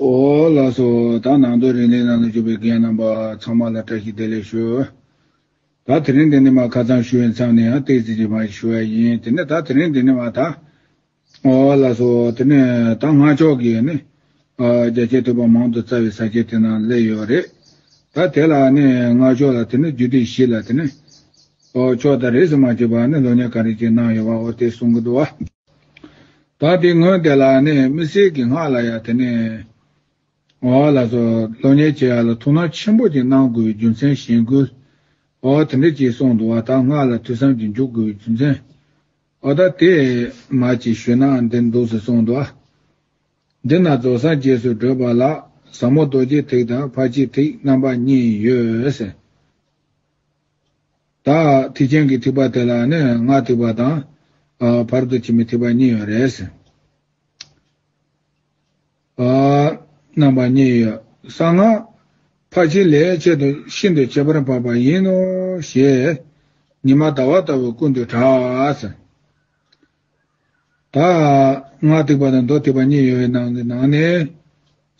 ཨོ་ལགས་སོ། ད་ནང་དོན་རིང་ལས་གནང་ལ་འཇུག་པའི་འགན་རྣམ་པ་ཚང་མ་ལ་བཀྲ་ཤིས་བདེ་ལེགས་ཞུ། ད་དེ་རིང་འདི་ནས་མ་ཁ་ཚང་ཞུ་བའི་མཚམས་ནས་ཡང་སྟེགས་རྩིས་ཀྱི་བང་ཞིག་ཞུ་བ་ཡིན་དེ་ནས་ད་དེ་རིང་འདི་ནས་མ་ད། ཨོ་ལགས་སོ། དེ་ནས་ད་སྔ་ཕྱོགས་ཀྱི་ནི། རྒྱ་ཆེའི་ཐོས་པ་མང་དུ་རྩ་བའི་ས་སྐྱའི་དེ་ནང་སླེབས་ཡོད་རེད། ད་དེ་ལ་ནི་སྔ་ཕྱོགས་ལ་དེ་ནི་རྒྱུད་སྡེ་བཞི་ལ་དེ་ནི། ཨོ་ཕྱོགས་ད་རེས་མ་བྱས་པ་ནི་ལོ་ཉེར་ག་རེ་ཅིག་གནང་ཡོད་པ་ཨོ་དེ་གསུང་གི་འདུག་བ། ད་དེ་སྔོན་དེ་ལ་ནི་མི་སྲིད་ཀྱི་སྔགས་ལ་ཡང་དེ་ནས་འོ་ལ་སློབ་གཉེར་བྱེད་ཡ་ལ་ཐུགས་སྣང་ཆེན་པོ་ཅིག་གནང་དགོས་རྒྱུ་མཚན་གཞན་ཀུན་འོ་དེ་འདྲ་ཅིག་གསུངས་འདུག་བ་ད་སྔགས་ལ་ཐོས་བསམ་གྱིས་འཇུག་དགོས་རྒྱུ་མཚན་འོ་ད་དེ་མ་ཅིག་ཞུས་ན་འདིར་འདུག་ཟེར་གསུངས་འདུག་འདི་ན་རྫོགས་སངས་རྒྱས་སུ་བགྲོད་པ་ལ་ཟབ་མོ་རྡོ་རྗེ་ཐིག་དང་ཕར་ཕྱིན་ཐིག་རྣམ་པ་གཉིས་ཡོད། བདག་ཐིག་ཅན་གྱི་ཐིག་པ་དེ་ལ་ནི་ང་ཐིག་པ་དང། བར་དུ་ཕྱི་མའི་ཐིག་པ་གཉིས་ཡོད། རེས་འགའ་རྣམ་པ་གཉིས་ཡོད། གསང་སྔགས་ཕ་བྱིན་ལས་ཆེད་དུ་ཤིན་ཏུ་ཁྱད་པར་འཕགས་པ་ཡིན་ནོ་ཞེས། ཉི་མ་ཟླ་བ་ལྟ་བུ་ཀུན་ཏུ་གྲགས། དག། སྔགས་ཐིགས་པ་དང་མདོ་ཐིགས་པ་གཉིས་ཡོད་པའི་ནང་གི་ནང་ནས།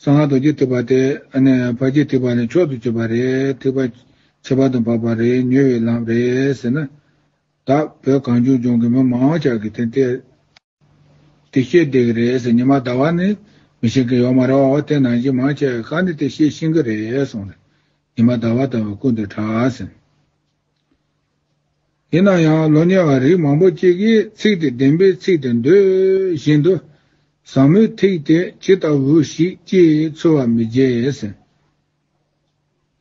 གསང་སྔགས་རྡོ་རྗེ་ཐིགས་པ་དེ། ཕ་རྗེས་ཐིགས་པ་ནས་མཆོག་ཏུ་གྱུར་པ་རེད། ཐིགས་པ། ཁྱད་པར་དུ་འབབ་པ་རེད་ཉོས་བའི་ལམ་རེད་ཟེར་ན། དག། བོད་གངས་ཅུང་ལྗོངས་ཀྱི་མི་མང་བ་ཅག་གིས་དེ་འདི། དེ་ཤེས་བསྡད་ཀྱི་རེད་ཟེར་ཉི་མ་ཟླ་བ་ནི། མི་ཤེས་མཁན་ཡོག་མ་རེད་འོ་དེ་ནང་བཞིན་མང་ཆེ་བས་ཁ་ནི་དེ་ཤེས་ཤིང་གི་རེད་སོང་ནས། ཉི་མ་ཟླ་བ་ལྟ་བུའི་སྐུ་འདི་གྲགས་ཟིན། ཡིན་ན་ཡང་ལོ་ཉེ་བ་རིགས་མང་པོ་ཅིག་གིས་ཚིག་དེ་བདེན་པའི་ཚིག་ཏུ་འདོད་བཞིན་དུ། བཟང་མོའི་ཐིག་དེ་ཇི་ལྟ་བུ་ཞིག་ཅེས་ཚོལ་བ་མི་བརྗེད།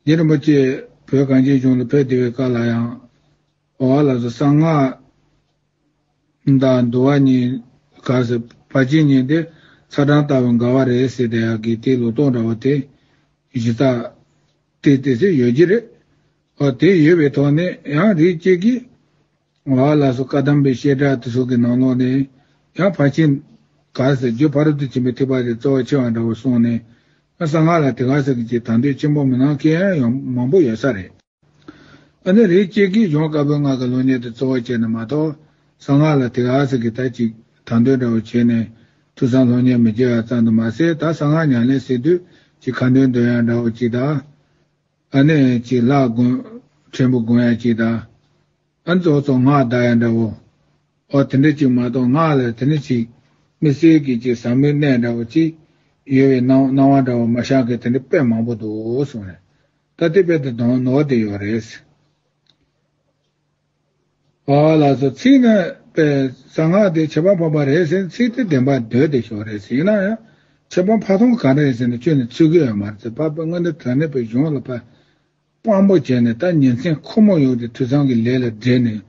རྗེ་རིན་པོ་ཆེས་བོད་གངས་ཅན་གཞུང་ལ་ཕེབས་བདེ་བའི་སྐབས་ལ་ཡང། འོ་ལ་སོ་གསང་སྔགས་དང་འདུལ་བ་གཉིས་དགའ་ཟེར་བ་གཅིག་ཉིད་དེ་ཚ་གྲང་ལྟ་བུ་འགའ་བ་རེད་ཟེར་དེ་ཡག་གི་དེའི་ལོ་ཏོག་འདྲ་བོ་དེ་གཞི་རྩ་དེ་དེ་ཚོས་ཡོད་ཀྱི་རེད། བ་དེ་ཡོད་པའི་ཐོག་ནས་ཡང་རིགས་གཅིག་གིས་ང་ལ་སོ་བཀའ་གདམས་པའི་བཤད་གྲྭ་དེ་ཚོ་གི་ནང་ལོགས་ནས་ཡང་ཕར་ཕྱིན་ག་ཟེར་རྒྱུ་ཕ་རོལ་ཏུ་ཕྱིན་པའི་ཐེག་པ་རེ་རྩ་བ་ཆེ་བ་འདྲ་བོ་གསུངས་ནས་ཡང་གསང་སྔགས་ལ་དེ་ག་ཟེར་གི་ཅིག་དང་དོད་ཆེན་པོ་མི་གནང་མཁན་ཡང་མང་པོ་ཡོད་ས་རེད། ཨ་ནི་རིགས་གཅིག་གིས་གཞུང་བཀའ་པོད་ལྔ་གི་ལུགས་ཉེར་དུ་རྩོལ་བ་བྱས་ནས་མ་གཏོགས་གསང་སྔགས་ལ་དེ་ག་ཟེར་གི་ད་ཅིག་དང་དོད་འདྲ་བོ་བྱས་ནས་མཐུ་གསང་ལྷོ་ཉེར་མི་བྱེད་ཨ་ཙམ་དུ་མ་ཟད་ད་གསང་སྔགས་ཉམས་ལེན་ཟེར་དུས་ཅིག་ཁ་འདོན་འདོན་ཡག་འདྲ་བོ་ཅིག་ད། ཨ་ནི་གཅིག་ལྷག་དགོན། ཕྲན་བུ་དགོན་ཡང་གཅིག་དང། ཨ་ཛོ་ཙོ་སྔགས་བདག་ཡང་འདྲ་བོ། ཨོ་དེ་འདྲ་གཅིག་མ་གཏོགས་སྔགས་ལ་དེ་ནི་ཅིག། མི་སེར་གྱི་གཅིག་ཟངས་མི་གནས་འདྲ་བོ་ཅིག། ཡོལ་བའི་སྣང་བ་འདྲ་བོ་མ་ཤག་གི་དེ་འདྲ་དཔེ་མང་པོ་འདུག་གསུངས། ད་ལྟའི་དཔེ་དེ་དོན་ནོར་དེ་ཡོད་རེད། བ་བ་ལ་སོགས་ཚིག་རྣམ་པས་གསང་སྔགས་དེ་བྱེད་པ་འཕགས་པ་རེད་ཟེར་ནས་ཚིག་དེ་བདེན་པ་འདོད་དེ་ཞོག་རེད་ཟེར་ཡིན་ན་ཡང་བྱེད་པ་འཕགས་ཐོང་གང་རེད་ཟེར་ནས་བཅོས་ནས་ཚིག་གི་ཡར་མར་ཚེ་དཔག་པའི་དངོས་འདི་དོན་གནས་པའི་གཞུང་ལ་ཕར་དཔང་པོ་བྱས་ནས་ད་ཉིན་མཚན་ཁོ་མོ་ཡོང་སྟེ་དུས་ཚང་གི་ལས་ལ་བྲེལ་ནས་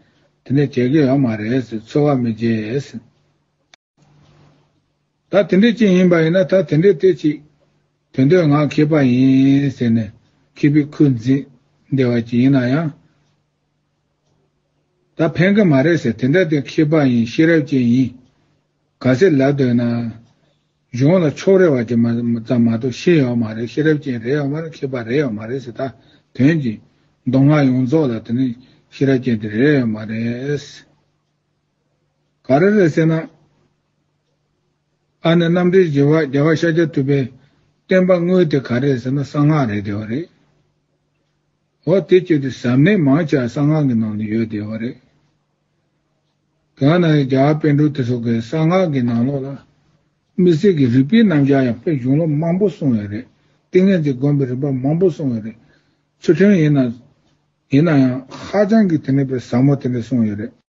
དེ་འདྲ་བྱེད་ཀྱི་ཡོད་མ་རེད་ཟེར་ཚོར་བ་མི་བྱེད། ད་དེ་འདྲའི་རྐྱེན་ཡིན་པ་ཡིན་ན་ད་དེ་འདྲའི་ལྟས་ཅིག། དོན་དོན་ངག་མཁས་པ་ཡིན་ཟེར་ནས་མཁས་པའི་ཁུར་འཛིན་བདེ་བ་ཅིག་ཡིན་ན་ཡང། ད་ཕན་གི་མ་རེད་ཟེར་དེ་འདྲ་དེ་མཁས་པ་ཡིན་ཤེས་རབ་ཅན་ཡིན། ག་ཚད་ལབ་འདོད་ན། གཞུང་ལ་ཕྱོགས་རེ་བ་ཅིག་མ་ཙམ་མ་གཏོགས་ཤེས་ཡོད་མ་རེད་ཤེས་རབ་ཅན་རེད་ཡོད་མ་རེད་མཁས་པ་རེད་ཡོད་མ་རེད་ཟེར་ད་དོན་གྱི་མདོ་སྔགས་ཡོངས་རྫོགས་ལ་དེ་ནི་ཤེས་རབ་ཅན་དེ་རེད་ཡོད་མ་རེད། ག་རེ་རེད་ཟེར་ན། ཨ་ནེ་རྣམ་འདྲེན་བྱེད་པ་རྒྱལ་བ་ཤཱཀྱ་ཐུབ་པའི་བསྟན་པ་དངོས་དེ་ག་རེད་ཟེར་ན་གསང་སྔགས་རེད་བསྡད་པ་རེད། ཨོ་དེ་ཁྱོད་ཀྱི་ཟབ་གནད་མང་ཆེ་བ་གསང་སྔགས་ཀྱི་ནང་དུ་ཡོད་བསྡད་པ་རེད། གང་ན་ཡང་རྒྱ་བ་དཔལ་འབྲུག་དེ་ཚོ་གི་གསང་སྔགས་ཀྱི་ནང་ལོགས་ལ། མི་སེར་གྱི་རིག་པའི་རྣམ་གཞག་ཡང་དཔེ་གཞུང་ལོ་མང་པོ་གསུངས་ཡོད་རེད། ཏིང་ངེ་འཛིན་སྒོམ་པའི་རིམ་པ་མང་པོ་གསུངས་ཡོད་རེད། ཚུལ་ཁྲིམས་ཡིན་ན། ཡིན་ན་ཡང་ཧ་ཅང་གི་དེ་ནས་པའི་ཟབ་མོ་དེ་འདྲ་གསུངས་ཡོད་རེད།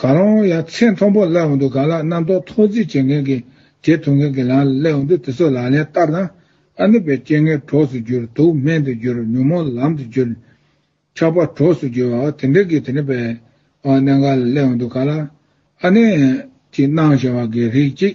གང་རུང་ཡང་ཚེ་མཐོན་པོ་བསླད་འོང་དུས་གང་ལ་རྣམ་རྟོག་ཐོག་རྫིས་བྱེད་མཁན་གྱི་རྗེས་ཐོབ་མཁན་གྱི་ལམ་ལ་བསླད་འོང་དུས་དེ་ཚོ་ལག་ལེན་བསྟར་ན། ཨ་ནུ་པའི་སྤྱན་སྔའི་གྲོགས་སུ་འགྱུར་དུག་སྨན་དུ་འགྱུར་ཉོན་མོངས་ལམ་དུ་འགྱུར། ཆགས་པ་གྲོགས་སུ་འགྱུར་བ་དེ་འདྲ་གི་དེ་འདྲ་བའི་གནད་འགག་ལ་བསླད་འོང་དུས་གང་ལ་ཨ་ནི་ཅིག་སྣང་ཞེན་བ་གི་རིགས་གཅིག་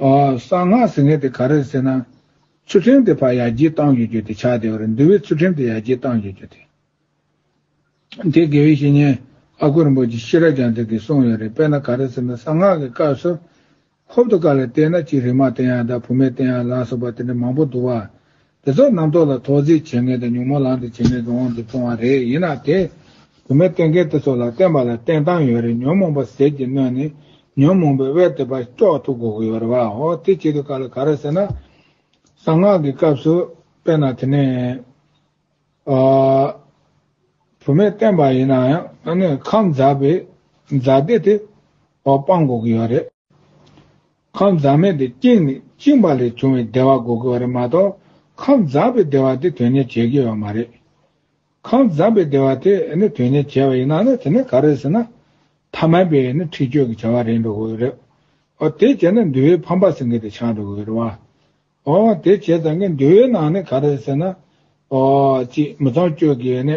གསང་སྔགས་ཟིན་ངེས་དེ་ག་རེད་ཟེར་ན། ཚུལ་ཁྲིམས་དེ་ཕར་ཡར་རྒྱས་བཏང་ཡོད་རྒྱུ་དེ་ཆགས་བསྡད་པ་རེད་འདུལ་བའི་ཚུལ་ཁྲིམས་དེ་ཡར་རྒྱས་བཏང་ཡོད་རྒྱུ་དེ། དེ་དགེ་བའི་བཤེས་གཉེན་ཨ་ཁུ་རིན་པོ་ཆེ་ཤེས་རབ་ཀྱང་དེ་དེ་གསུངས་ཡོད་རེད་དཔེར་ན་ག་རེད་ཟེར་ན་གསང་སྔགས་ཀྱི་སྐབས་སུ། ཧོབ་ཏུ་བཀའ་ལ་བལྟས་ན་གཅིག་རིག་མ་བསྟན་ཡང་དག་བུ་མེད་བསྟན་ཡང་ལགས་སོགས་པ་དེ་འདྲ་མང་པོ་འདུག་བ། དེ་ཚོ་རྣམ་རྟོག་ལ་ཐོག་རྫིས་བྱེད་ངེས་དང་ཉོན་མོངས་ལང་དུ་བྱེད་ངེས་ཀྱི་དབང་དུ་བྱུང་བ་རེད་ཡིན་ནའང་དེ། དུ་མས་བསྟན་མཁན་དེ་ཚོ་ལ་བསྟན་པ་ལ་བསྟན་སྟངས་ཡོད་རེད་ཉོན་མོངས་པ་ཟས་ཀྱིས་གནོད་ནས་ཉོན་མོངས་པའི་དབལ་དེ་པར་དཀྱོག་ཐུབ་དགོས་ཀྱི་ཡོད་རེད་བའོ་དེ་བྱེད་དུ་ག་ལ་ག་རེད་ཟེར་ན། གསང་སྔགས་ཀྱི་སྐབས་སུ་དཔེར་ན་དེ་ནས། བུད་མེད་བསྟན་པ་ཡིན་ན་ཡང་ཁམས་འཛག་པའི་འཛག་བདེ་དེ། སྤང་དགོས་ཀྱི་ཡོད་རེད། ཁམས་འཛག་མེད་དེ་བཅིངས་ནས་བཅིངས་པ་ལས་བྱུང་བའི་བདེ་བ་གོ་དགོས་པ་རེད་མ་གཏོགས་ཁམས་འཛག་པའི་བདེ་བ་དེ་དོན་གཉེར་བྱེད་དགོས་པ་མ་རེད། ཁམས་འཛག་པའི་བདེ་བ་དེ་ནི་དོན་གཉེར་བྱེད་པ་ཡིན་ན་ནི་དེ་ནི་ག་རེད་ཟེར་ན། ཐ་མལ་པའི་ནི་འཁྲིག་སྤྱོད་ཀྱི་བྱ་བ་རེད་འགྲོ་དགོས་རེད། འོ་དེ་བྱས་ན་འདུལ་བའི་ཕམ་པ་ཟིང་གེ་དེ་ཆགས་འགྲོ་དགོས་རེད། འོ་དེ་བྱས་ཙང་ཀི་འདུལ་བའི་ནང་ནི་ག་རེད་ཟེར་ན། ཨོ་ཅི་མི་ཚངས་སྤྱོད་ཀྱི་ནི།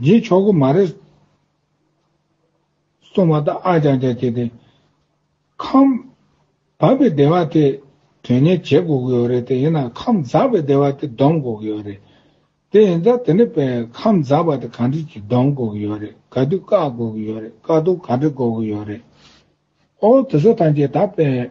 ངའི་ཆོག་གི་མ་རེད། སོང་བ་དང་ཨ་ཅག་ཅག་བྱས་ཏེ། ཁམས། བབས་པའི་སྡེ་བ་དེ། དོན་གཉེར་བྱེད་དགོས་ཀྱི་ཡོད་རེད་དེ་ཡིན་ན་ཁམས་འཛག་པའི་སྡེ་བ་དེ་བསྡོམས་དགོས་ཀྱི་ཡོད་རེད། དེ་ཡིན་ཙང་དེ་ནི་པའི་ཁམས་འཛག་པ་དེ་ག་འདྲིས་ཀྱིས་བསྡོམས་དགོས་ཀྱི་ཡོད་རེད་ག་དུས་བཀག་དགོས་ཀྱི་ཡོད་རེད་བཀག་རྡུང་ག་འདྲི་དགོས་ཀྱི་ཡོད་རེད། ཨོ། དེ་ཚོ་ཐམས་ཅད་ད་པའི།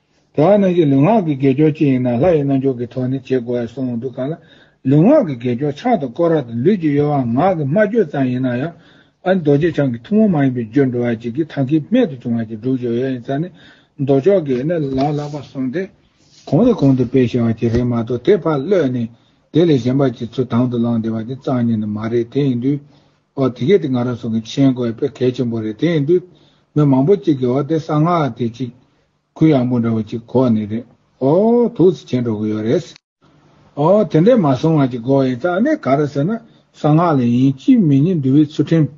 དེ་བ་རྣམས་ཀྱི་ལུས་ངག་གི་དགེ་སྦྱོར་ཅི་ཡིན་ན་ལྷ་ཡི་རྣལ་འབྱོར་གྱི་ཐོག་ནས་བྱེད་དགོས་ཡ་སོང་འདུག་ག་ལ། ལུས་ངག་གི་དགེ་སྦྱོར་ཕྱག་དང་སྐོར་ར་དང་ལུས་ཀྱི་གཡོ་བ་ངག་གི་སྨྲ་བརྗོད་ཙམ་ཡིན་ན་ཡང། ཨ་རྡོ་རྗེ་འཆང་གི་ཐུན་མོང་མ་ཡིན་པའི་རྒྱུར་འགྲོ་བ་གཅིག་གིས་ཐང་གིས་རྨད་དུ་བྱུང་བ་གཅིག་སྒྲུབ་བྱེད་ཡ་ཡིན་ས་ནི་མདོ་ཕྱོགས་ཀྱི། ནས་ལ་ལ་བ་སོང་སྟེ། གོང་ནས་གོང་དུ་སྤེལ་ཤེས་བ་གཅིག་རེད་མ་གཏོགས་དེ་ཕར་གློད་ནས་དེ་ལས་གཞན་པ་གཅིག་ཚུར་དང་དུ་བླངས་བསྡད་པ་དེ་གཙང་གཉིས་ནི་མ་རེད་དེ་ཡིན་དུས། ཨོ་དེ་གས་དེ་ང་རང་སོང་གི་མཆན་བཀོད་དཔེ་གལ་ཆེན་པོ་རེད་དེ་ཡིན་དུས་མི་མང་པོ་གཅིག་གི་འོག་དེ་གསང་སྔགས་དེ་གཅིག་གུ་ཡངས་པོ་འདྲ་བོ་གཅིག་གོ་ནི་རེད་ཨོ་དུག་ཚི་ཆེན་འགྲོ་གི་ཡོད་རེད། ཨོ་དེ་འདྲས་མ་སོང་ང་ཅིག་གོ་ཡིན་ཙང་ནི་ག་རེ་ཟེར་ན་གསང་སྔགས་ལ་ཡིན་གཅིག་མི་གཉིས་འདུལ་བའི་ཚུལ་ཁྲིམས་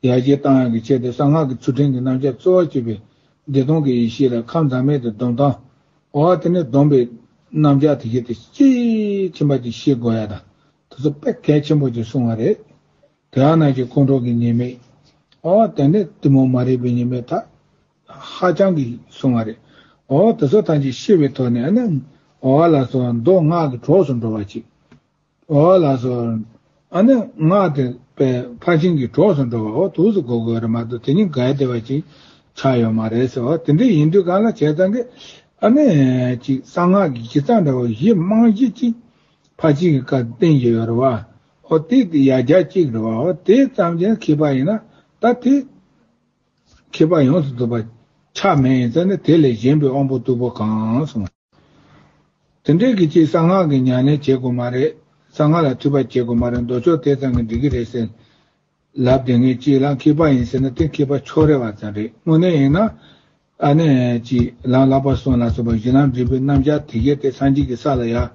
ཡར་རྒྱས་གཏང་ཡང་གི་ཆེད་དུ་གསང་སྔགས་ཀྱི་ཚུལ་ཁྲིམས་ཀྱི་རྣམ་བཞག་གཙོ་བོ་བྱས་པའི་བདེ་སྟོང་གི་ཡེ་ཤེས་ལ་ཁམས་ཛམ་མེད་དུ་སྡོམ་དང་ཨོ་དེ་ནས་སྡོམ་པའི་རྣམ་བཞག་དེ་གཞི་དེ་གཅིག་ཁྱིམ་པ་གཅིག་ཤེས་དགོས་ཡ་དང་དེ་ཚོ་དཔེ་གལ་ཆེན་པོ་ཅིག་གསུང་བ་རེད། དེའང་ནང་བཞིན་དཀོན་མཆོག་གི་ཉེས་དམིགས། ཨོ་དེ་ནི་གཏི་མུག་མ་རིག་པའི་ཉེས་དམིགས་དག་ཧ་ཅང་གིས་གསུང་བ་རེད། ཨོ་དེ་ཚོ་ཐམས་ཅད་ཤི་བའི་ཐོག་ནས་ཨ་ནི་ཨོ་ཨ་ལགས་སོ་མདོ་སྔགས་ཀྱི་གྲོགས་སུ་འགྲོ་བ་ཅིག། ཨོ་ཨ་ལགས་སོ། ཨ་ནི་སྔགས་དེ་པའི་ཕར་ཕྱིན་གྱི་གྲོགས་སུ་འགྲོ་བ་ཨོ་དུག་སུ་འགོ་དགོས་རེད་མ་གཏོགས་དེ་གཉིས་འགལ་ཟླ་བ་ཅིག་ཆགས་ཡོད་མ་རེད་ཟེར་བ་དེ་འདྲ་ཡིན་དུས་གང་ལ་བྱས་ཙང་གིས་ཨ་ནི་ཅིག་གསང་སྔགས་ཀྱི་ཁྱི་ཚང་འདྲ་བོ་བཞི་དམངས་གཞི་གཅིག་ཕ་གཅིག་གི་སྐབས་སྟེང་གི་ཡོ་རོ་བ་ཧོ་ཏི་དེ་ཡར་རྒྱ་གཅིག་རོ་བ་ཧོ་ཏི་ཙམ་གྱིས་མཁས་པ་ཡིན་ན་ད་དེ་མཁས་པ་ཡོངས་སུ་རྫོགས་པ་ཆགས་མེད་ཡིན་ཚེ་ནི་དེ་ལས་གཞན་པའི་དབང་པོ་རྟུལ་པོ་གང་སོང། དེ་འདྲའི་གི་ཅིག་གསང་སྔགས་ཀྱི་ཉམས་ལེན་བྱེད་དགོས་མ་རེད་གསང་སྔགས་ལ་ཐུགས་པ་བསྐྱེད་དགོས་མ་རེད་མདོ་ཕྱོགས་དེ་ཙམ་གྱིས་འགྲིག་གི་རེད་ཟེར། ལབ་བདེ་ངས་གཅིག་ལ་མཁས་པ་ཡིན་ཟེར་ན་དེ་མཁས་པ་ཕྱོགས་རེ་བ་ཙམ་རེད་དངོས་གནས་ཡིན་ན། ཨ་ནེ། གཅིག་ལམ་བརླག་པར་སོང་ལ་སོགས་པ་གཞི་ལམ་འབྲས་བུའི་རྣམ་གཞག་དེ་གས་ཏེ་སངས་རྒྱས་ཀྱི་ས་ལ་ཡར།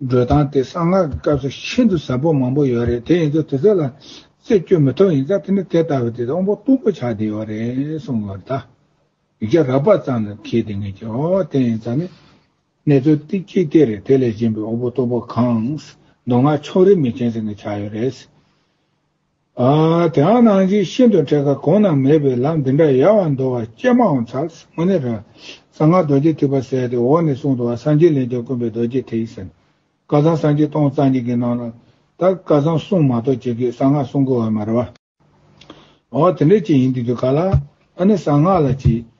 འགྲོ་སྟངས་དེ་གསང་སྔགས་ཀྱི་སྐབས་སུ་ཤིན་ཏུ་ཟབ་པོ་མང་པོ་ཡོད་རེད་དེ་ཡིན་ཚོ་དེ་ཚོ་ལ་རྩད་གཅོད་མི་ཐུབ་ཡིན་ཙང་དེ་ནི་དེ་ལྟ་བུ་དེ་དབང་པོ་སྟུག་པོ་ཆགས་བསྡད་ཡོད་རེད་གསུངས་ཡོད་རེད་ད། ཡིག་ཆ་རག་པ་ཙམ་ལ་མཁས་བདེ་ངས་ཀྱི་ཨོ་དེ་ཡིན་ཙང་ནི། གནས་ཚུལ་སྟེ་གཅིག་དེ་རེད་དེ་ལས་གཞན་པའི་དབང་པོ་སྟུག་པོ་གང། མདོ་སྔགས་ཕྱོགས་རེས་མི་མཁྱེན་ཟེར་ངས་ཆགས་ཡོད་རེད། དེའང་སྣང་བཞི་ཤིན་ཏུ་འཕྲད་ཁ་གོང་ན་མེད་པའི་ལམ་འདི་འདྲ་ཡལ་བར་འདོར་བ་སྤྱན་མ་འོངས་ཚར་སྔོན་ནི་རང་གསང་སྔགས་རྡོ་རྗེ་ཐིགས་པ་གསལ་ཏེ་འོག་ནས་གསུང་དུ་བ་སངས་རྒྱས་ལས་བྱུང་དཀོན་པའི་རྡོ་རྗེ་ཐིགས་ཟེར། སྐལ་བཟང་སངས་རྒྱས་སྟོང་རྩ་གཉིས་ཀྱི་ནང་ལ། ད་སྐལ་བཟང་གསུང་མ་གཏོགས་ཅི་དགོས་གསང་སྔགས་གསུང་དགོས་བ་མ་རེད་བ། འོ་དེ་འདྲ་ཅི་ཡིན་དེ་དུས་ག་ལ། ཨ་ནི་གསང་སྔགས་ལ་ཅི།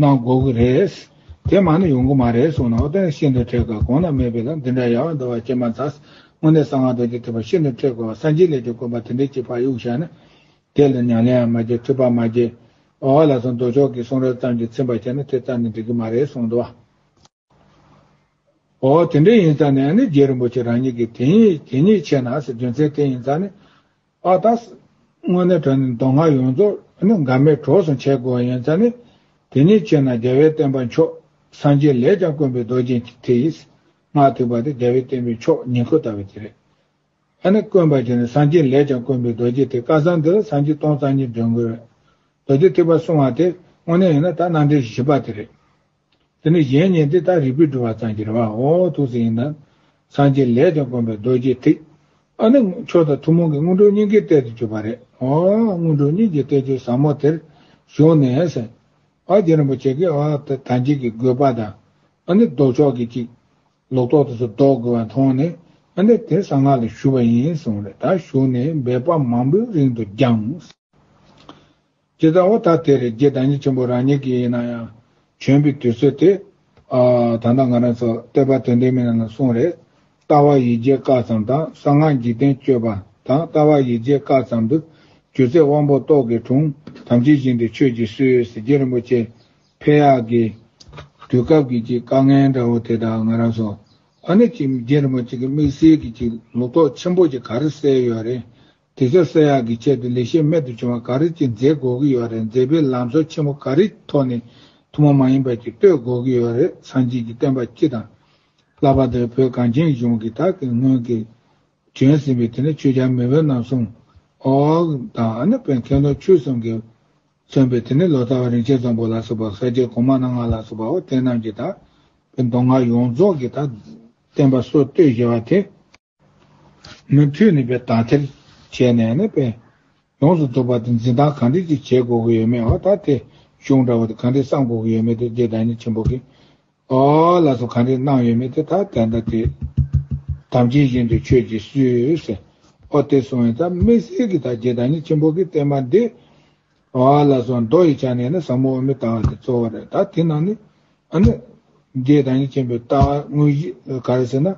གནང་དགོས་ཀྱི་རེད། དེ་མ་ནི་ཡོང་གི་མ་རེད་གསུངས་ནའོ་ཏེ་ཤིན་ཏུ་ཁྲེལ་དགོས་གང་ན་མེད་པའི་ལམ་འདི་འདྲ་ཡལ་བ་འདུལ་བ་ཅན་མ་ཚང། དངོས་གནས་གསང་སྔགས་རྡོ་རྗེ་ཐེག་པ་ཤིན་ཏུ་ཁྲེལ་དགོས་བ་སངས་རྒྱས་ལས་ཀྱི་དགོན་པ་དེ་འདྲའི་སྤྱི་ཕག་གཡུགས་བཞག་ན། དེ་ལ་ཉམས་ལེའང་མ་སྐྱེ་འཁྲུལ་པའང་མ་སྐྱེ། འོ་ལ་སོང་མདོ་ཕྱོགས་ཀྱི་གསུང་རབ་ཙམ་གྱིས་ཚིམ་པར་བྱས་ན་དེ་ཙམ་ནི་འགྲིག་གི་མ་རེད་གསུངས་འདུག་བ། ཨོ་དེ་འདྲ་ཡིན་ཙང་ནི་ཨ་ནི་རྒྱལ་རིན་པོ་ཆེ་རང་ཉིད་ཀྱིས་དེ་ཉིད་ཆད་ན་ཟེར་རྒྱུ་མཚན་དེ་ཡིན་ཙང་ནི། ཨ་ད། དངོས་གནས་དོན་ནི་མདོ་སྔགས་ཡོངས་རྫོགས་ནི་འགག་མེད་གྲོགས་སུ་འཆད་དགོས་པ་ཡིན་ཙང་ནི། དེ་ཉིད་ཆད་ན་རྒྱལ་བའི་བསྟན་པ་མཆོག་སངས་རྒྱས་ལས་ཀྱང་དཀོན་པའི་རྡོ་རྗེ་འཆི་ལྟས་ཡིས། སྔགས་ཐུབ་པ་དེ་རྒྱལ་བའི་བསྟན་པའི་མཆོག་ཉིད་ཁོ་ལྟ་བུ་དེ་རེད། ཨ་ནི་དཀོན་པ་ཆེ་ནི་སངས་རྒྱས་ལས་ཀྱང་དཀོན་པའི་རྡོ་རྗེ་དེ་སྐལ་བཟང་འདི་ལ་སངས་རྒྱས་སྟོང་རྩ་གཉིས་འདོན་དགོས། རྡོ་རྗེ་ཐེག་པ་སྲུང་བ་དེ་དངོས་གནས་ཡིན་ན་ད་སྣང་འགྲེལ་བཞི་པ་དེ་རེད། དེ་ནི་གཞན་ཉིད་འདི་ལྟར་རིག་པས་བསྒྲུབ་བ་ཙམ་གྱི་རེ་བའང་འོང་བ་ཐུགས་སུ་ཡིན་ནམ། སངས་རྒྱས་ལས་ཀྱང་དཀོན་པའི་རྡོ་རྗེའི་ཐིག། ཨ་ནི། མཆོག་དང་ཐུན་མོང་གི་སྔོན་འགྲོའི་སྙིང་གའི་གཏད་དུ་གྱུར་པ་རེད། སྔོན་འགྲོའི་སྙིང་གའི་གཏད་ཆོས་ཟབ་མོ་དེར་བཞུགས་ནས། ཨ་རྒྱ་རིན་པོ་ཆེ་གིས་ཨ་ཏི་དམ་ཅན་གྱི་དགོས་པ་དང། ཨ་ནི་ལྡོག་ཕྱོགས་ཀྱི་ཅིག། ལོག་རྟོག་དུ་སུ་ལྡོག་དགོས་པ་མཐོང་ནས། ཨ་ནི་དེར་གསང་སྔགས་ལ་བཞུགས་པ་ཡིན་གསུངས། རེ་ད་བཞུགས་ནས་འབད་པ་མང་པོའི་རིང་དུ་བསྐྱངས། ཇི་ལྟ་བ་དག་དེར་རྒྱའི་བདག་ཉིད་ཆེན་པོ་རང་ཉིད་ཀྱི་ཡིན་ན་ཡང་བྱོན་པའི་དུས་ཚོད་དེ། ད་ལྟ་ང་རང་ཚོ་བསྟོད་པ་དོན་ལྡན་མི་སྣ་ལ་གསུངས་རེད། ལྟ་བ་ཡིད་བྱེད་བཀག་ཙམ་དང་གསང་སྔགས་འཇིག་རྟེན་སྤྱོད་པ་དང་ལྟ་བ་ཡིད་བྱེད་བཀག་ཙམ་དུ་གྱུར་ཚེ་དབང་པོ་ཏོག་གི་དྲུང་དམ་ཅི་བཞིན་དུ་ཆོས་ཀྱི་སྲིད་འོད་ཟེར་རྒྱལ་རིན་པོ་ཆེ་ཕེབས་ཡག་གི། དུས་སྐབས་ཀྱི་ཅིག་དཀའ་ངལ་འདྲ་བོ་དེ་དག་ང་རང་ཚོ་ཨ་ནི་ཅིག་རྒྱལ་རིན་པོ་ཆེ་གི་དམིགས་བསལ་གྱི་ཅིག་ལོ་ཏོག་ཆེན་པོ་ཅིག་ག་རེ་བསལ་ཡོད་རེད་དེ་ཆོག་སེར་ཡག་གི་ཆེད་དུ་ལས་བྱེད་རྨད་དུ་བྱུང་བ་ག་རེ་གཅིག་འཛེགས་དགོས་ཀྱི་ཡོད་རེད་འཛེགས་པའི་ལམ་སྲོལ་ཆེན་པོ་ག་རེ་ཐོག་ནས་ཐུན་མོང་མ་ཡིན་པ་གཅིག་གཏོད་དགོས་ཀྱི་ཡོད་རེད་སངས་རྒྱས་ཀྱི་བསྟན་པ་སྤྱི་དང། བསླབ་པ་དེར་བོད་གངས་ཅན་གཞུང་གིས་དག་གིས་སྔོན་གྱི། བྱོན་ཟིན་པའི་དེ་ནས་ཆོས་རྒྱལ་མི་བོ་རྣམས་གསུང། ཨོའོ། དང་ཨ་ནི་བོད་མཁས་རྡོ་ཆོས་གསུམ་གྱིས། མཚོན་པའི་དེ་ནས་ལོ་ཙཱ་བ་རིན་ཆེན་བཟང་པོ་ལ་སོགས་པ་ས་སྐྱའི་གོང་མ་རྣམ་ལྔ་ལ་སོགས་པའོ་དེ་རྣམས་ཀྱིས་དག་གི་མདོ་སྔགས་ཡོངས་རྫོགས་ཀྱི་དག་གི་བསྟན་པ་སྲོལ་གཏོད་བཞེད་པ་དེ། མུ་མཐུད་ནས་དག་ཐེར་བྱས་ནས་ནི་དཔེ་ཡོངས་སུ་རྫོགས་པ་དེ་འཛིན་སྟངས་གང་འདྲས་ཅིག་བྱེད་དགོས་ཀྱི་ཡོད་མེད་འོ་ད་དེ་གཞུང་འདྲ་བོ་དེ་གང་འདྲས་བསམ་དགོས་ཀྱི་ཡོད་མེད་དེ་རྗེ་བདག་ཉིད་ཆེན་པོ་གིས་ཨོ་ལ་སོགས་གང་འདྲས་གནང་ཡོད་མེད་དེ་ད་དེ་འདྲ་དེ་དམ་ཅན་བཞིན་དུ་ཁྱོད་ཀྱིས་སུས་ཟེར་ཨོ་དེ་སོང་ཡང་ད་མི་སྲིད་ཀྱི་ད་རྗེ་བདག་ཉིད་ཆེན་པོ་གིས་བསྟན་པ་འདི་བ་ལ་སོགས་མདོ་ཡི་ཆ་ནས་ནི་ཟབ་མོ་འོག་མིན་ལྟ་བ་དེ་གཙོ་བོ་རེད་ད་དེ་ན་ནི། འདིའི་དང་གཉིས་ཆེན་པོའི་ལྟ་བ་དངོས་གཞི་ག་རེ་ཟེར་ན།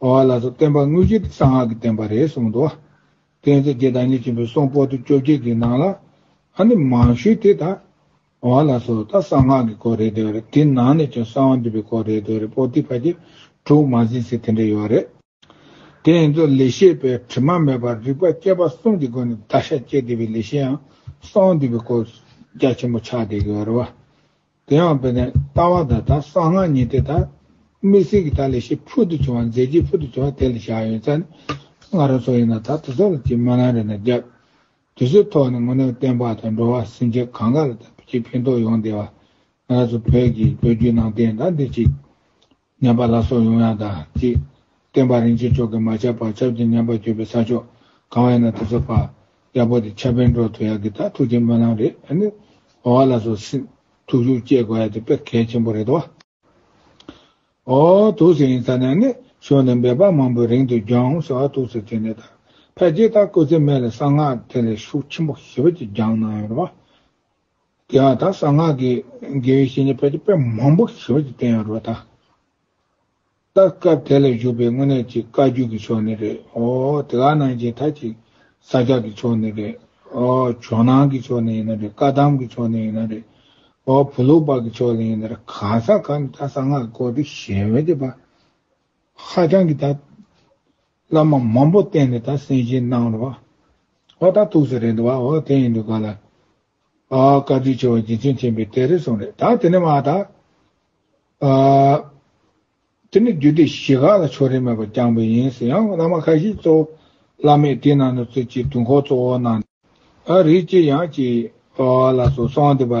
བ་ལ་སོགས་བསྟན་པ་དངོས་གཞི་དེ་གསང་སྔགས་ཀྱི་བསྟན་པ་རེད་གསུངས་འདུག་བ། དེ་ཚེ་རྒྱལ་དང་གཉིས་ཆེན་པོའི་གསུང་པོ་ཏི་བཅོ་བརྒྱད་ཀྱི་ནང་ལ། མང་ཤོས་དེ་ད། བ་ལ་སོགས་ད་གསང་སྔགས་ཀྱི་སྐོར་རེད་འདོད་རེད་དེ་ནང་ནས་ཀྱང་གསང་བ་འདུས་པའི་སྐོར་རེད་འདོད་རེད་པོ་ཏི་ཕ་རྗེས་དྲུག་མ་ཟིན་ཚེ་དེ་འདྲ་ཡོད་རེད། དེ་ཡིན་ཚུལ་ལེགས་བཤད་པས་དྲི་མ་མེད་པར་རིགས་པ་སྐྱེ་བ་གསུམ་གྱི་སྒོ་ནས་བདག་ཤ་བཅད་བསྡུས་པའི་ལེགས་བཤད་ཡང་གསང་འདུས་པའི་སྐོར་རྒྱ་ཆེན་པོ་ཕྱག་འདེབས་ཀྱི་བར་བ། དེ་ཡང་དཔེར་ན་ལྟ་བ་དང་དང་གསང་སྔགས་གཉིས་ཏེ་དང་དམིགས་བསལ་གྱི་དག་ལེགས་བཤད་ཕུལ་དུ་བྱུང་བ་མཛད་རྗེས་ཕུལ་དུ་བྱུང་བ་དེ་ལ་བཞག་ཡོད་ཚད་ནི་སྔ་རོལ་སོགས་ཡིན་ལ་ད་དེ་སོགས་ལ་ཅིས་མ་ལང་རེ་ན་རྒྱབ། དུས་ཚོད་ཐོག་ནས་ངོ་ནས་བསྟན་པ་དང་འགྲོ་བ་སེམས་ཅན་གང་ག་ལ་དང་བོ་ཅིས་ཕན་ཐོགས་ཡོང་བདེ་བ། ང་ཚོ་བོད་ཀྱི་ལོ་རྒྱུས་ནང་བསྟན་དང་འདིར་ཅིག། མཉམ་པ་ལ་སོགས་ཡོངས་ཡངས་དང་གཅིག། སྟོན་པ་རིན་ཆེན་མཆོག་གིས་མ་ཆགས་པར་སྐྱབས་ཀྱི་མཉམ་པ་བརྗོད་པའི་ས་ཕྱོགས་གང་བ་ཡིན་ན་དེ་ཚོ་པ། ཡག་པོ་དེ་ཆ་བེད་འགྲོ་ཐུབ་ཡག་གི་ད་ཐུགས་རྗེ་སྨོན་ལམ་རེད་ཨ་ནི། འོ་བ་ལ་སོགས་སི། ཐུགས་ཤུགས་བསྐྱེད་དགོས་ཡ་དེ་དཔེར་གལ་ཆེན་པོ་རེད་བ། འོ། ཐུགས་སེ་ཡིན་ས་ནས་ཨ་ནི་ཤོར་ནས་འབད་པ་མང་པོའི་རིང་དུ་རྒྱང་ཟེར་བ་ཐུགས་སེ་དེ་ནས་ད། ཕལ་ཆེར་ད་སྐུ་ཚེ་སྨད་ལ་གསང་སྔགས་དེ་ལས་ཤུགས་ཆེན་པོ་ཞི་བ་ཅིག་རྒྱང་གནང་ཡོད་རེད་བ། དེ་ཡང་དག་གསང་སྔགས་ཀྱི་དགེ་བའི་བཤེས་གཉེན་ཕལ་ཆེར་དཔེ་མང་པོ་ཞིབ་པར་བསྟན་ཡོད་རོ། ད་ལྟ་སྐབས་དེ་ལ་བཞུགས་པའི་དངོས་གནས་ཀྱི་བཀའ་བརྒྱུད་ཀྱི་ཕྱོགས་ནི་རེད་ཨོ། དེ་ག་ནང་བཞིན་ཐ་ཅིག་ས་སྐྱ་ཀྱི་ཕྱོགས་ནི་རེད་ཨོ། ཇོ་ནང་གི་ཕྱོགས་ནི་ཡིན་ན་རེད་བཀའ་གདམས་ཀྱི་ཕྱོགས་ནི་ཡིན་ན་རེད་ཨོ། བུ་ལུགས་པ་ཀྱི་ཕྱོགས་ནི་ཡིན་ན་རེད་གང་ས་གང་དུ་ད་གསང་སྔགས་ཀྱི་སྐོར་དེ་ཞལ་འོད་དེ་པ་ཧ་ཅང་གི་ད་བླ་མ་མང་པོ་བསྟེན་ནས་ད་སེམས་ཅན་སྣང་རོགས། ཨོ་ད་ཐུགས་སུ་རེད་འདུག་བ་ཨོ་དེ་ཡིན་འདུག་ག་ལ། ཨ་ཨ་བཀའ་དྲིན་ཆེ་བ་རྗེ་བཙུན་མཁྱེན་པའི་གཏེར་རེ་ཟུང་རེད་ད་དེ་ནས་མ་ད། ཨ་དེ་ནས་རྒྱུད་སྡེ་བཞི་ག་ལ་ཕྱོགས་རེ་མེད་པར་བསྐྱངས་པས་ཡིན་ཟེར་ཡང་བླ་མ་ཁ་ཤས་གཙོ་བོ་བླ་མས་དེ་ནང་ནས་ཚུལ་གྱི་དུང་འཁོར་གཙོ་བོར་གནང་སྟེ། ཨ་རིག་སྐྱིད་ཡང་སྐྱིད། ཨོ་ཨ་ལ་སོགས་གསང་འདི་པ་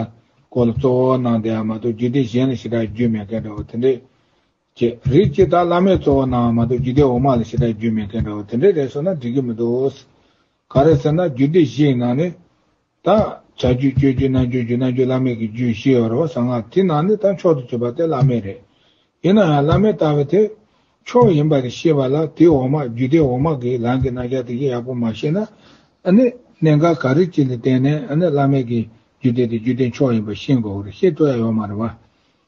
སྐོར་ལ་གཙོ་བོར་གནང་དེ་ཡང་མ་གཏོགས་རྒྱུད་སྡེ་གཞན་ལ་ཞེ་དྲག་རྒྱུས་མེད་མཁན་འདྲ་བ་དེ་འདྲས་ཅེས་རིགས་ཀྱི་བདག་བླ་མའི་གཙོ་བོ་ནའང་མ་གཏོགས་རྒྱུད་སྡེ་འོག་མ་ལ་ཞེ་དྲག་རྒྱུད་མེད་མཁན་འདྲ་བོ་དེ་འདྲའི་རེ་སོ་ན་འགྲིག་གི་མི་འདུག། ག་རེ་ཟེར་ན་རྒྱུད་སྡེ་བཞི་ཡི་ནང་ནས། ད། བྱ་རྒྱུད་སྤྱོད་རྒྱུད་གནང་རྒྱུད་རྒྱུད་གནང་རྒྱུད་བླ་མེད་ཀྱི་རྒྱུད་བཞི་ཡོད་རེད་བ་ཟང་ང་དེ་ནང་ནས་ད་མཆོག་ཏུ་གྱུར་པ་དེ་བླ་མེད་རེད། ཡིན་ན་ཡང་བླ་མའི་ལྟ་བའི་ཐད། མཆོག་ཡིན་པ་རེད་ཤེས་པ་ལ་དེ་འོག་མ་རྒྱུད་སྡེ་འོག་མ་གིས་ལངས་ཀྱི་གནང་བྱ་དེ་བཞིན་ཡག་པོ་མ་ཤེས་ན། ཨ་ནི། གནད་འགག་ག་རེ་ཅིག་ལ་བརྟེན་ནས་ཨ་ནི་བླ་མེད་ཀྱི་རྒྱུད་སྡེ་དེ་རྒྱུད་སྡེ་མཆོག་ཡིན་པ་ཤེས་དགོས་རེད་ཤེས་སྤྲོ་ཡ་ཡོད་མ་རེད་བ།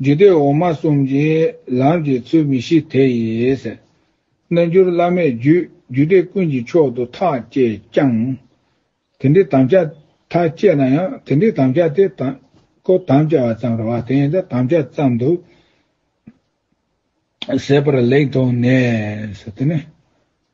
རྒྱུད་སྡེ་འོག་མ་གསུམ་གྱིས་ལམ་གྱི་ཚུལ་མི་ཤེས་དེ་ཡིས། རྣལ་འབྱོར་བླ་མས་རྒྱུད་རྒྱུད་སྡེ་ཀུན་གྱི་མཆོག་ཏུ་ཐག་བཅད་ཀྱང། དེ་འདྲའི་དམ་བཅའ་ཐག་བཅད་ན་ཡང་དེ་འདྲའི་དམ་བཅའ་དེ་དང་པོ་དམ་བཅའ་བ་ཙམ་རེ་བ་དེ་ཡིན་ཏེ་དམ་བཅའ་ཙམ་དུ་ཟད་པར་ལེགས་མཐོང་ནས།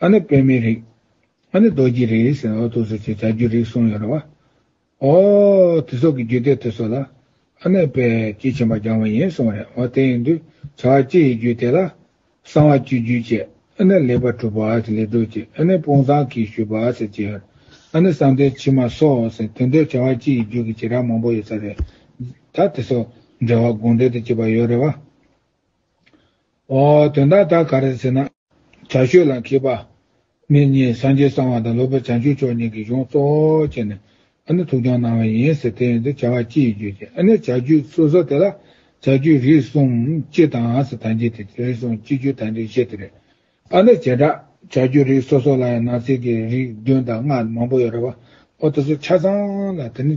ཨ་ནི་དཔེ་མེད་རིགས། ཨ་ནི་རྡོ་རྗེའི་རིགས་ཟེར་ནའོ་ཐུགས་སུ་ཆུད་བྱ་རྒྱུ་རིགས་གསུམ་ཡོད་རེད་བ། ཨོ། དེ་སོགས་ཀྱི་རྒྱུད་སྡེ་དེ་སོགས་ལ། ཨ་ནི་དཔེ། ཅེས་བྱིན་པ་སྦྱང་བ་ཡིན་གསུངས་རེད་བ་དེ་ཡིན་དུས་བྱ་བ་སྤྱི་ཡི་རྒྱུད་སྡེ་ལ། གསང་བ་བཅུའི་རྒྱུད་བཅས་ཨ་ནི་ལེགས་པར་གྲུབ་བ་ཟེར་ལེགས་གྲུབ་ཅེས་ཨ་ནི་དཔུང་བཟང་གིས་ཞུས་པ་ཟེར་བཅས་ཡོད། ཨ་ནི་གསང་བདེ་ཕྱི་མ་སོགས་ཟེར་དོན་དེར་བྱ་བ་སྤྱི་ཡི་རྒྱུད་ཀྱི་བྱེ་བྲག་མང་པོ་ཡོད་ས་རེད། ད་དེ་སོགས་འགྲེལ་བ་དགོངས་འགྲེལ་དུ་བྱས་པ་ཡོད་རེད་བ། དོན་དག་དག་ག་རེད་ཟེར་ན། བྱ་ཤོད་ལ་མཁས་པ། མི་གཉིས་སངས་རྒྱས་གསང་བ་དང་ལོ་པེར་བྱང་ཆུབ་མཆོག་གཉིས་ཀྱི་གཞུང་གཙོ་བོ་བྱས་ནས། ཨ་ནི་ཐུགས་སྦྱོང་གནང་བ་ཡིན་ཟེར་དེ་ཡིན་དུ་བྱ་བ་ཅི་ཡི་རྒྱུ་ཞེས་ཨ་ནི་བྱ་རྒྱུད་སོ་སོ་དེ་ལ་བྱ་རྒྱུད་རིགས་གསུམ་སྤྱི་དང་ཟེར་ཐང་རྒྱུད་དེ་རིགས་གསུམ་སྤྱི་རྒྱུད་དང་རིགས་བཞི་དེ་རེད། ཨ་ནི་བྱེ་བྲག་བྱ་རྒྱུད་རིགས་སོ་སོ་ལ་ཡང་ནང་གསེས་ཀྱི་རིགས་བདུན་དང་ལྔ་མང་པོ་ཡོད་རེད་བ། ཨོ་ད་སོ་ཆ་ཚང་ལ་དེ་ནི།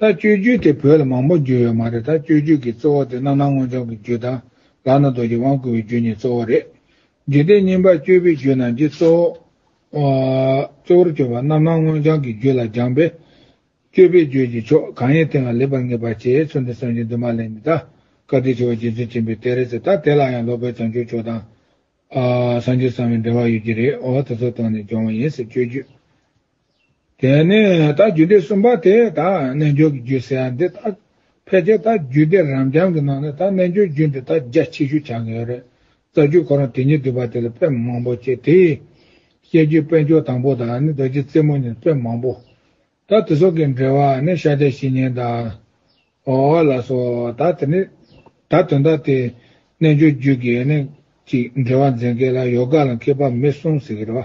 ད་སྤྱོད་རྒྱུད་དེ་བོད་ལ་མང་པོ་འགྱུར་ཡོད་མ་རེད་ད་སྤྱོད་རྒྱུད་ཀྱི་གཙོ་བོ་དེ་རྣམ་སྣང་སྔོན་བྱོན་གྱི་རྒྱུད་དང་ལག་ན་རྡོ་རྗེ་དབང་བསྐུར་བའི་རྒྱུད་གཉིས་གཙོ་བོ་རེད། འཇིག་རྟེན་སྙིང་པར་སྤྱོད་པའི་རྒྱུད་རྣམས་ཀྱི་གཙོ་བོར་གྱུར་པ་རྣམ་སྣང་སྔོན་བྱང་གི་རྒྱུད་ལ་སྦྱངས་པས། སྤྱོད་པའི་རྒྱུད་ཀྱི་ཕྱོགས་གང་ཡིན་དེ་ལ་ལེགས་པར་ངེས་པར་བྱས་ཚུལ་འདི་སེམས་ཅན་དུ་མ་གླེང་མི་གདའ། བཀའ་དྲིན་ཆེ་བ་རྗེ་བཙུན་ཆེན་པོའི་གཏེར་རེད་ཟེར་ད་དེ་ལ་ཡང་ལོ་པཎ་བྱང་ཆུབ་མཆོག་དང། སངས་རྒྱས་གསང་བའི་འབྲེལ་བ་ཡོད་ཀྱི་རེད་འོ་དེ་ཚོ་དོན་ནས་སྦྱོང་བ་ཡིན་ཟེར་སྤྱོད་རྒྱུད། དེ་ནས་དག་རྒྱུད་སྡེ་གསུམ་པ་དེ་དག་རྣལ་འབྱོར་གྱི་རྒྱུད་ཟེར་ཡང་འདི་དག་ཕལ་ཆེར་དག་རྒྱུད་སྡེ་རབ་འབྱམས་ཀྱི་ནང་ནས་དག་རྣལ་འབྱོར་རྒྱུད་འདི་དག་རྒྱ་ཆེ་ཤོས་ཆགས་ཀྱི་ཡོད་རེད། རྩ་རྒྱུད་ཁོ་རང་དེ་ཉིད་བསྡུས་པ་དེ་ལ་དཔེ་མང་པོ་སྐྱེས་ཏེ། བཤད་རྒྱུད་དཔལ་འབྱོར་དང་པོ་དང་ནི་རྡོ་རྗེ་རྩེ་མོ་གཉིས་དཔེ་མང་པོ། དག་དེ་སོགས་ཀྱི་འགྲེལ་བ་ནི་ཤཱཀྱ་བཤེས་གཉེན་དང། ཨོ་ཨོ་ལ་སོགས་དག་དེ་ནི་དག་དོན་དག་དེ་རྣལ་འབྱོར་རྒྱུད་ཀྱི་ནི་ཅིག་འགྲེལ་བ་མཛད་མཁན་ལ་ཡོ་ག་ལ་མཁས་པ་མི་གསུངས་ཟེར་གྱི་རེད་བ།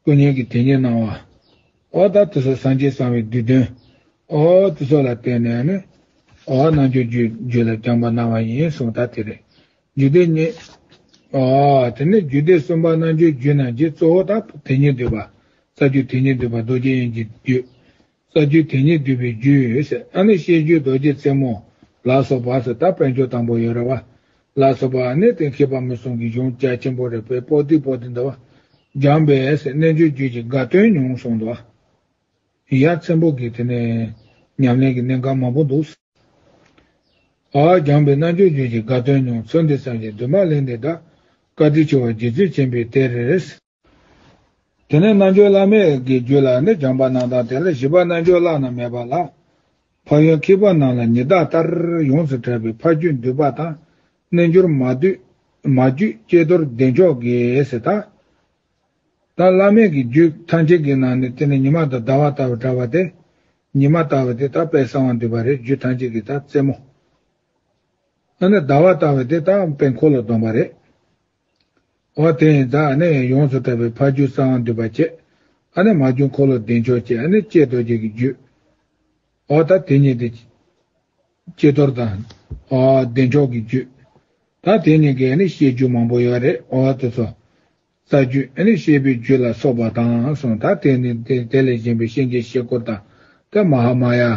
སྐུ་བརྙན་གྱི་དེ་ཉིད་སྣང་བ། འོ་ད་དེ་སོགས་སངས་རྒྱས་གསང་བའི་བསྡུས་དོན། འོ་དེ་སོགས་ལ་བརྟེན་ནས་ནི། འོ་རྣལ་འབྱོར་རྒྱུད་ལ་རྐྱང་པ་སྣང་བ་ཡིན་གསུངས་ད་དེ་རེད། རྒྱུད་སྡེ་གཉིས། འོ་དེ་ནས་རྒྱུད་སྡེ་གསུམ་པ་རྣལ་འབྱོར་རྒྱུད་རྣམས་ཀྱི་གཙོ་བོ་ད་དེ་ཉིད་བསྡུས་པ། རྩ་རྒྱུད་དེ་ཉིད་བསྡུས་པ་རྡོ་རྗེ་དབྱིངས་ཀྱི་རྒྱུད། ས་བཅུའི་དེ་ཉིད་བསྡུས་པའི་རྒྱུད། ཨ་ནི་བཤད་རྒྱུད་རྡོ་རྗེ་རྩེ་མོ། ལ་སོགས་པ་སོ་ད་དཔལ་འབྱོར་དང་པོ་ཡོད་རེད་བ། ལ་སོགས་པ་ནི་གཏན་འཁེལ་པ་མི་གསུང་གི་གཞུང་རྒྱ་ཆེན་པོ་རེད་པས་པོ་ཏི་པོ་ཏི་འདི་བ། སྦྱངས་པས་རྣལ་འབྱོར་རྒྱུད་ཀྱི་དགའ་སྟོན་མྱོང་གསུང་འདི་བ། ཡ་མཚན་པོ་གི་དེ་ནས་ཉམས་ལེན་གི་གནད་འགག་མང་པོ་འདུག། ཨ་སྦྱངས་པས་རྣལ་འབྱོར་རྒྱུད་ཀྱི་དགའ་སྟོན་མྱོང་ཚུལ་འདི་བསམ་བཞིན་དུ་མ་གླེང་འདི་དག། བཀའ་དྲིན་ཆེ་བ་རྗེ་བཙུན་ཆེན་པོའི་གཏེར། དེ་ནས་རྣལ་འབྱོར་བླ་མེད་ཀྱི་རྒྱུད་ལ་ནི་སྦྱངས་པ་རྣམས་དང་དེ་ལ་བཞི་པ་རྣལ་འབྱོར་བླ་ན་མེད་པ་ལ། ཕ་ཡུལ་འཁྱིལ་པ་རྣམས་ལ་ཉི་ཟླ་ལྟར་ཡོངས་སུ་གྲགས་པའི་ཕ་རྒྱུད་འདུས་པ་དང། རྣལ་འབྱོར་མ། རྒྱུད་སྐྱེས་རྡོར་བདེ་མཆོག་གིས་དང། དང། བླ་མེད་ཀྱི་རྒྱུད་ཐམས་ཅད་ཀྱི་ནང་ནས་དེ་ནི་ཉི་མ་དང་ཟླ་བ་ལྟ་བུར་གྲགས་པ་སྟེ། ཉི་མ་ལྟ་བུ་དེ་དག་དཔལ་གསང་བ་འདུས་པ་རེད་རྒྱུད་ཐམས་ཅད་ཀྱི་དག་རྩེ་མོ། ཟླ་བ་ལྟ་བུ་དེ་དག་དཔལ་འཁོར་ལོ་སྡོམ་པ་རེད། འོ་དེ་ཡིན་ད་ནི་ཡོངས་སུ་གྲགས་པའི་ཕ་རྒྱུད་གསང་བ་འདུས་པ་བཅས། ཨ་ནི་མ་རྒྱུད་འཁོར་ལོ་བདེ་མཆོག་བཅས་ཨ་ནི་ལྕེ་རྡོ་རྗེ་ཀྱི་རྒྱུད། འོ་ད་དེ་གཉིས་ཏེ། ལྕེ་རྡོར་དང། འོ་བདེ་མཆོག་གི་རྒྱུད། ད་དེ་གཉིས་ཀས་ནི་བཤད་རྒྱུད་མང་པོ་ཡོད་རེད་འོ་དེ་ཚོ། རྩ་རྒྱུད་ཨ་ནི་བཤད་པའི་རྒྱུད་ལ་སོགས་པ་དང་གསུངས་ད་དེ་ནི་དེ་ལས་གཞན་པའི་གཤེན་གྱི་གཤེད་སྐོར་དང། ཏེ་མ་ཧཱ་མ་ཡ།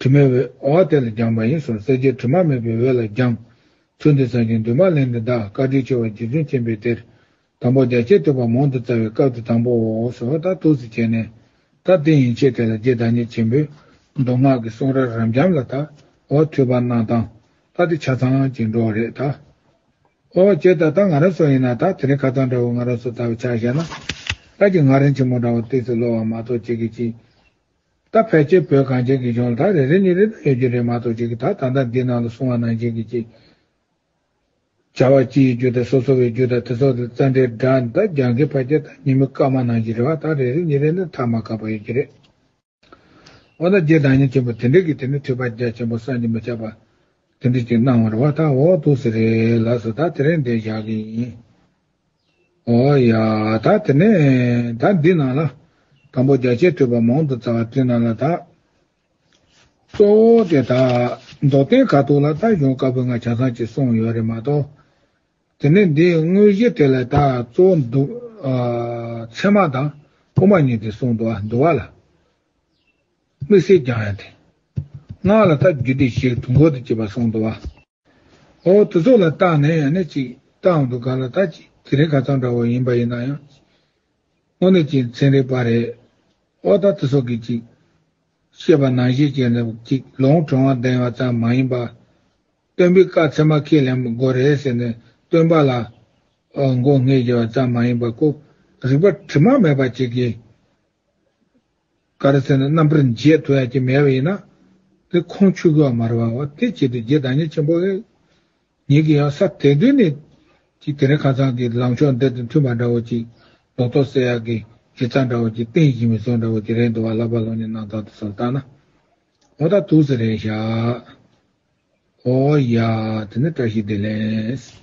དྲི་མེད་བའི་འོག་དེ་ལ་སྦྱངས་པ་ཡིན་སོགས་གསལ་བྱེད་དྲི་མ་མེད་པའི་འོད་ལ་སྦྱངས། ཚུལ་འདི་ཟབ་ཅིང་འདུན་མ་ལེན་འདི་དག་བཀའ་དྲིན་ཆེ་བ་རྗེ་བཙུན་མཁྱེན་པའི་གཏེར། དང་པོ་རྒྱ་ཆད་བསྟོད་པ་མང་དུ་བསྩལ་བའི་སྐབས་དེ་དང་པོའོ་སོགས་དང་ཐུགས་སུ་བྱས་ནས། ད་དེ་ཡན་ཆད་དེ་ལ་རྗེ་བདག་ཉིད་ཆེན་པོས་མདོ་སྔགས་ཀྱི་གསུང་རབ་རབ་འབྱམས་ལ་དྭོགས་ཐོས་པར་གནང་སྟངས་ལྟ་དེ་ཆ་ཚང་གཅིག་འགྲོ་རེད་ད། ཨོ་ཅེ་ད་ལྟ་ང་རང་སོགས་ཡིན་ན་ད་དེ་རིང་ཁ་ཚང་འདྲ་བོ་ང་རང་སོགས་ལྟ་བའི་ཆ་བཞག་ན། སྐབས་ཀྱི་ངག་རིང་ཆེན་མོ་འདྲ་བོ་བཏུས་སུ་ལོ་བ་མ་གཏོགས་ཅི་གི་ཅི། ད་ཕལ་ཆེར་བོད་གངས་ཅན་གྱི་གཞུང་ལ་དག་རེ་རེ་ནས་རེ་འདོད་ཡོད་རྒྱུ་རེད་མ་གཏོགས་ཅིག་གིས་ད་ད་ལྟ་འདི་ནང་ལ་གསུང་བ་ནང་བཞིན་གྱི་ཅིག་བྱ་བ་སྤྱི་ཡི་རྒྱུ་དང་སོ་སོ་བའི་རྒྱུ་དང་དེ་སོགས་དང་རྩ་འགྲེལ་སྒྲ་ད་རྒྱང་གི་བར་གྱི་ད་ཉིན་མོའི་སྐར་མ་ནང་བཞིན་རེ་བ་ད་རེ་རེ་ནས་རེ་ན་ཐག་མ་བཀག་པ་ཡོད་རྒྱུ་རེད། འོ་ན་རྗེ་བདག་ཉིད་ཆེན་པོ་དེ་འདྲས་ཀྱིས་དེ་ནི་ཐོས་པ་རྒྱ་ཆེན་པོ་སངས་རྒྱས་མི་ཆགས་པ་དེ་འདྲས་ཅིག་གནང་བར་རེ་བ་ད་འོག་ཏུ་ཟེར་རེ་ལགས་སོ་ད་དེ་རིང་འདི་བཞག་གི་ཡིན། ཨོ་ཡ། ད་དེ་ནས་ད་འདི་ནང་ལ། དང་པོ་རྒྱ་ཆད་ཐོས་པ་མང་དུ་བཙལ་བ་བཀྲིས་ན་ལ་དྭགས། གཙོ་བོ་དེ་དག་རྫོགས་ལྡན་ཁ་ཐུག་ལ་ད་གཞུང་དཀར་པོའི་ང་བྱང་ཚང་གཅིག་གསུངས་ཡོད་རེད་མ་གཏོགས། དེ་ནས་འདིའི་དངོས་གཞི་དེ་ལ་དྭགས་གཙོ་བོ་འདུ། ཚད་མ་དང་དབུ་མ་གཉིས་དེ་གསུངས་འདུག་ཨ་འདུ་བ་ལ། དམིགས་བསལ་རྒྱང་ཡང་དེ། སྔགས་ལ་ད་རྒྱུད་སྡེ་བཞིར་དུ་འགོད་དུ་བཅུག་པ་གསུངས་འདུག་ཨ། ཨོ། དུ་ཚོགས་ལ་བརྟགས་ནས་ཡང་ནི་ཅིག། བརྟགས་འདུག་ག་ལ་བརྟགས་ཅིག་དེ་རིང་ག་ཙམ་འདྲ་བོ་ཡིན་པ་ཡིན་ན་ཡང། དངོས་གནས་ཀྱི་མཚན་རེད་པ་རེད། ཨོ་ད་དུ་ཚོགས་ཀྱིས་ཅིག། བཤད་པ་ནང་བཞིན་བྱས་ནས་ཅིག་ལོང་དྲང་བ་བདེན་བ་ཙམ་མ་ཡིན་པར། སྟོན་པའི་བཀའ་ཚད་མ་ཁས་ལེན་དགོས་རེད་ཟེར་ནས་སྟོན་པ་ལ། མགོ་སྔས་བརྒྱབ་པ་ཙམ་མ་ཡིན་པར་ཀོ། རིག་པ་དྲི་མ་མེད་པ་ཅིག་གིས། ཀ་ར་སེ་ན་རྣམ་པར་འབྱེད་དུ་ཡང་ཅི་མེད་པ་ཡིན་ན། དེ་ཁོང་ཆུ་བོའི་མར་བ་བ་དེ་བྱེད་དུ་རྗེ་བདག་ཉིད་ཆེན་པོ་ཨེ། ཉིད་ཀྱིས་ཡང་ས་དེ་དུས་ནས། ཅིག་དེ་རིང་ཁ་ཚང་གི་ལངས་ཕྱོགས་འདི་དང་མཐུན་པ་འདྲ་བོ་ཅིག། ལོག་རྟོག་བསལ་ཡག་གི་ཡིག་ཚགས་འདྲ་བོ་ཅིག་སྟེང་བཞིན་མི་སྲོག་འདྲ་བོ་ཅིག་རེད་འདུག་བ་ལ་བ་ལོ་ནས་གནང་སྟངས་དེ་ཚོར་བརྟགས་ན། ཨོ་ད་ཐུགས་ཟེར་རེད་ཤག། ཨོ་ཡ། དེ་ནི་བཀྲ་ཤིས་བདེ་ལེགས།